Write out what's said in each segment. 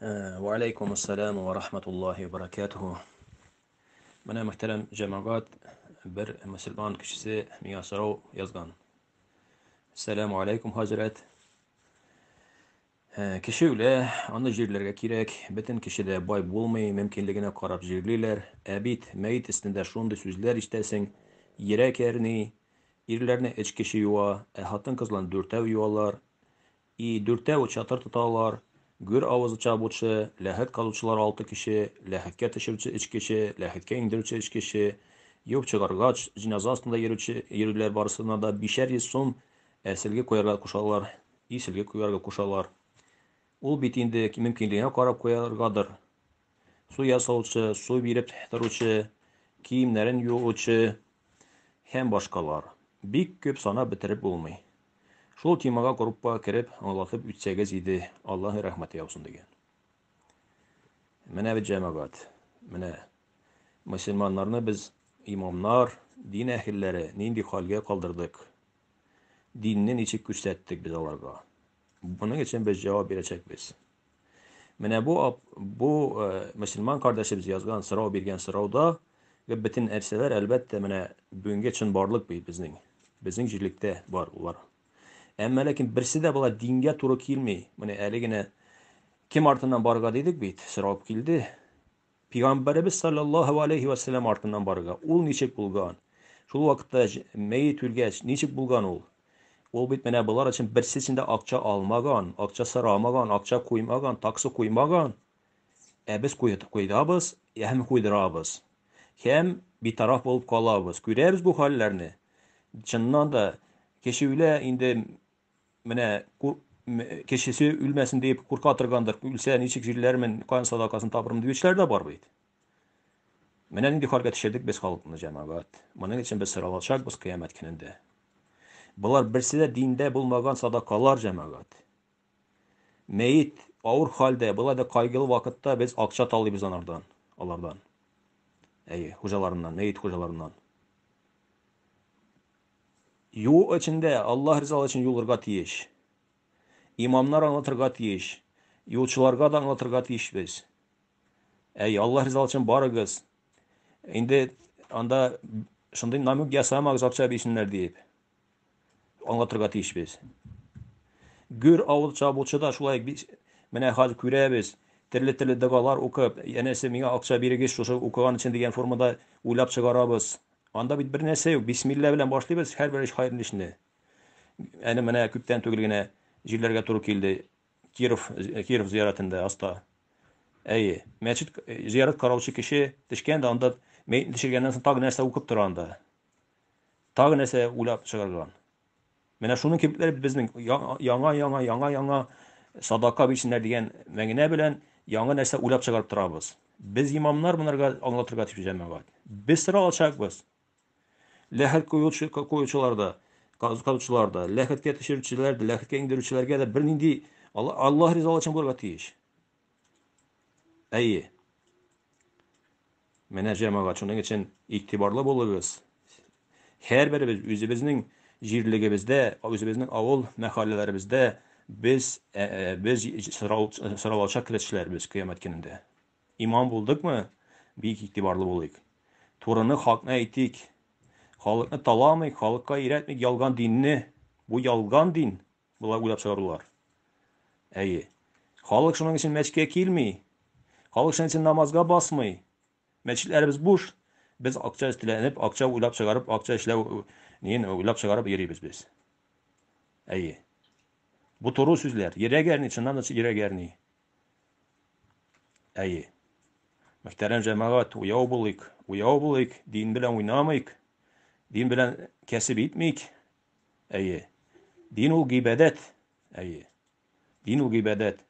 Ва алейкум ассалам ва рахматуллахи ва баракатуху. Менә мөхтәрәм җәмәгать, бер мусульман кешесе миңа сорау язган. Ассаламу алейкум, хәзрәт. Ә, Кеше үлә, аны җирләргә кирәк, бөтен кеше дә бай булмый, мөмкинлегенә карап җирлиләр. Ә бит мәет өстендә шундый сүзләр ишетәсең, йөрәк әрни, ирләрне өч кеше юа, ә хатын-кызларны дүртәү юалар. И, дүртәве чатыр тоталар, гөр авызы чабучы, ләхет казучылар алты кеше, ләхеткә төшерүче өч кеше, ләхеткә иңдерүче өч кеше, юып чыгаргач, җеназа астында йөрүче, йөрүләр барысына да бишәр йөз сум ә сөлге куярга кушалар, и сөлге куярга кушалар. Ул бит инде мөмкинлегеңә карап куяргадыр. су ясаучы, су биреп торучы, киемнәрен юучы һәм башкалар. Бик күп санап бетереп булмый. Шул темага группа кереп аңлатып үтсәгез иде, Аллаһы рәхмәте яусын дигән. Менә бит җәмәгать. Менә мөселманнарны без имамнар, дин әһелләре нинди хәлгә калдырдык? Динне ничек күрсәттек без аларга? Моның өчен без җавап бирәчәкбез. Менә бу бу э, мөселман кардәшебез язган сорау биргән сорауда бөтен нәрсәләр әлбәттә менә бүгенге чын барлык бит безнең. Безнең җирлектә бар улар. Әмма ләкин берсе дә була дингә туры килми. Менә әле генә кем артыннан барырга дидек бит, сорап килде. Пигамбәребез саллаллаһу алейһи вә сәлләм артыннан барырга. Ул ничек булган? Шул вакытта мәет үлгәч, ничек булган ул? Ул бит менә болар өчен берсе өчен дә акча алмаган, акча сорамаган, акча куймаган, таксы куймаган. Ә без куйдабыз һәм куйдырабыз. Һәм битараф булып калабыз. Күрәбез бу хәлләрне. Чыннан да, кешеләр инде Менә кешесе үлмәсен дип курка торгандыр, үлсә ничек җилләрмен, кан садакасын табырмын диючеләр дә бар бит. Менә нинди хәлгә төшердек без халыкны, җәмәгать. Моның өчен без соралачакбыз кыямәт көнендә. Болар берсе дә диндә булмаган садакалар, җәмәгать. Мәет авыр хәлдә, болай да кайгылы вакытта без акча талыйбыз анардан, алардан. Әйе, хуҗаларыннан, мәет хуҗаларыннан. Юл эчендә Аллаһ ризалыгы өчен юлырга тиеш. Имамнар аңлатырга тиеш. Юлчыларга да аңлатырга тиешбез. Әй, Аллаһ ризалыгы өчен барыгыз. Инде анда шундый намек ясамагыз акча бирсеннәр диеп. Аңлатырга тиешбез. Гөр авыл чабучы да шулай менә хәзер күрәбез. Төрле-төрле догалар укып, янәсе миңа акча бирегез шушы укыган өчен дигән формада уйлап чыгарабыз. Анда бит бер нәрсә юк. Бисмилла белән башлыйбыз һәрбер эш хәерле эшне. Әле менә күптән түгел генә җирләргә туры килде. Киров Киров зияратында аста. Әйе, мәчет зиярат караучы кеше төшкән дә анда мәйетне төшергәннән соң тагы нәрсә укып тора анда. Тагы нәрсә уйлап чыгарган. Менә шуның кебекләре безнең яңа яңа яңа яңа садака бирсеннәр дигән мәгънә белән яңа нәрсә уйлап чыгарып торабыз. Без имамнар монарга аңлатырга тиеш җәмәгать. Без сыра алачакбыз. Ләхет куючы куючылар да, казучылар да, ләхеткә төшерүчеләр дә, ләхеткә иңдерүчеләргә дә бернинди Аллаһ ризалыгы өчен булырга тиеш. Әйе. Менә җәмәгать шуның өчен игътибарлы булыгыз. Һәрберебез үзебезнең җирлегебездә, үзебезнең авыл мәхәлләләребездә без без соралачак кешеләр без кыямәт көнендә. Иман булдыкмы? Бик игътибарлы булыйк. Турыны хакны әйтик. Халыкны таламыйк, халыкка өйрәтмик ялган динне. Бу ялган дин, Болай уйлап чыгардылар. Әйе. Халык шуның өчен мәчкә килми. Халык шуның өчен намазга басмый. Мәчетләребез буш. Без акча эзтеләнеп, акча уйлап чыгарып, акча эшләү ниен уйлап чыгарып йөрибез без. Әйе. Бу туры сүзләр. Йөрәк әрни, чыннан да йөрәк әрни. Әйе. Мөхтәрәм җәмәгать, уяу булыйк, уяу булыйк, дин белән уйнамыйк, дин белән кәсеп итмик, Әйе. Дин ул гыйбадәт. Әйе. Дин ул гыйбадәт.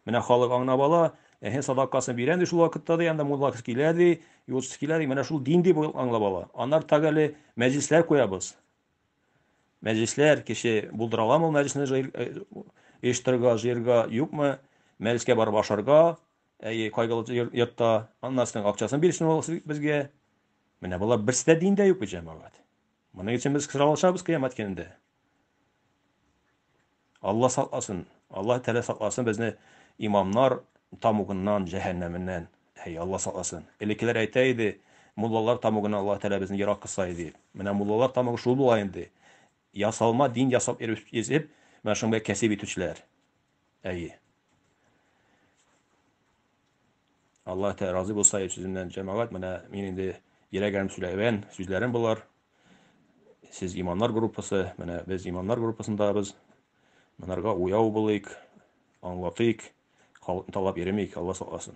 Менә халык аңнап ала, эһе садакасын бирәм ди шул вакытта ди, анда мулла килә ди, юлчысы килә ди, менә шул дин дип аңлап ала. Аннары тагы әле мәҗлесләр куябыз. Мәҗлесләр кеше булдыра аламы ул мәҗлесне җыйр- э, оештырырга, җыерга, юкмы? Мәҗлескә барып ашарга, әйе, кайгылы йор- йортта, аннарсының акчасын бирсен ул сез- безгә. Менә болар берсе дә диндә юк бит, җәмәгать. Моның өчен без сораулашабыз кыямәт көнендә. Алла сакласын, Алла Тәгалә сакласын безне имамнар тамугыннан, җәһәннәменнән. Әй, Алла сакласын. Элеккеләр әйтә иде, муллалар тамугыннан Алла Тәгалә безне ерак кылса иде. Менә муллалар тамугы шул була инде. Ясалма дин ясап йөреп, менә шуның белән кәсеп итүчеләр. Әйе. Аллаһ Тәгалә разый булса, сүземнән җәмәгать, менә мин инде йөрәгем сөйләгән сүзләрем булар. Сез имамнар группасы, менә без имамнар группасындабыз. Монарга уяу булыйк, аңлатыйк, халыкны талап йөремик, Алла сакласын.